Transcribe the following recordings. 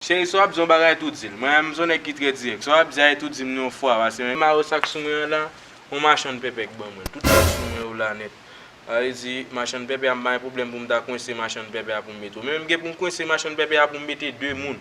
Cheri sa w ap di yon bagay tou di l. Mwen menm m son nèg ki trè dirèk. Sa w ap di a e tou di m li yon fwa pase menm. Mare w sa k sou mwen an la. On machann pèpè k ban mwen l. Tout sa k sou mwen yo la nèt. Sa vle di machann pèpè a m pa gen pwoblèm pou m ta kwense machann pèpè a pou m mete w. Men m gen pou m kwense machann pèpè a pou m mete 2 moun.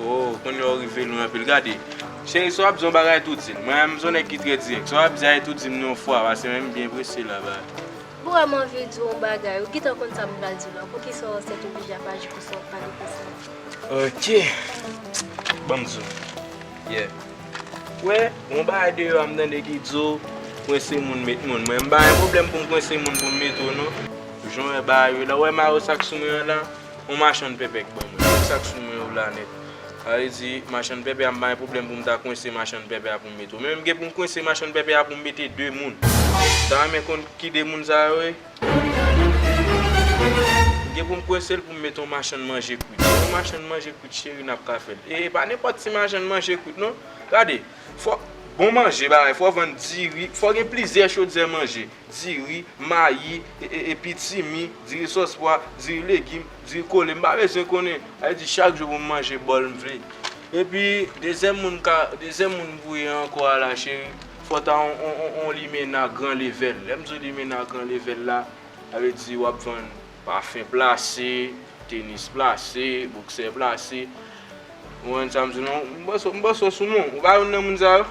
Ooh kounya ou rive lwen anpil gade Cheri swa ap di yon bagay tou dim mwen menm son nèg ki trè dirèk swa ap di a e tou dim li yon fwa pase menm byen prese la ba. Ou wèm anvi diw yon bagay ou gintan konn sam pral diw la poukisa ou ansent ou bije ap aji konsa wap pale konsa. Ok banm diw yeah ou wè yon bagay deyò a m tande ki di ou kwense moun met moun mwen m pa gen pwoblèm poum kwense moun poum met ou non jan ou wè bagay yo la ou wè mayo sak sou mwen an la. On machann pèpè k ban mwen. Kisak sou mwen ou la nèt. Sa vle di machann pèpè a m pa gen pwoblèm pou m ta kwense machann pèpè a pou m mete w. Men m gen pou m kwense machann pèpè a pou m mete 2 moun. M ta renmen konn ki 2 moun sa yo ye. M gen pou m kwense l pou m mete on machann manje kwit. Si on machann manje kwit cheri n ap ka fè l. E e pa nenpòt ti machann manje kwit non. Gade, fò bon manje bagay fò vann diri, fò gen plizyè chodyè manje. diri, mayi, epi timi, diri sòs pwa, diri legim, diri kole, m pa bezwen konnen, sa vle di chak jou pou m manje bòl m vle. Epi dezyèm moun ka, dezyèm moun m voye ankò a la cheri, fò ta yon limena gran levèl. Lè m di w limena gran levèl la, sa vle di w ap vann pafen plase, tenis plase, boksè plase. Ou konprann sa m di w la? M panse w sou moun. Ou pa youn nan moun sa yo?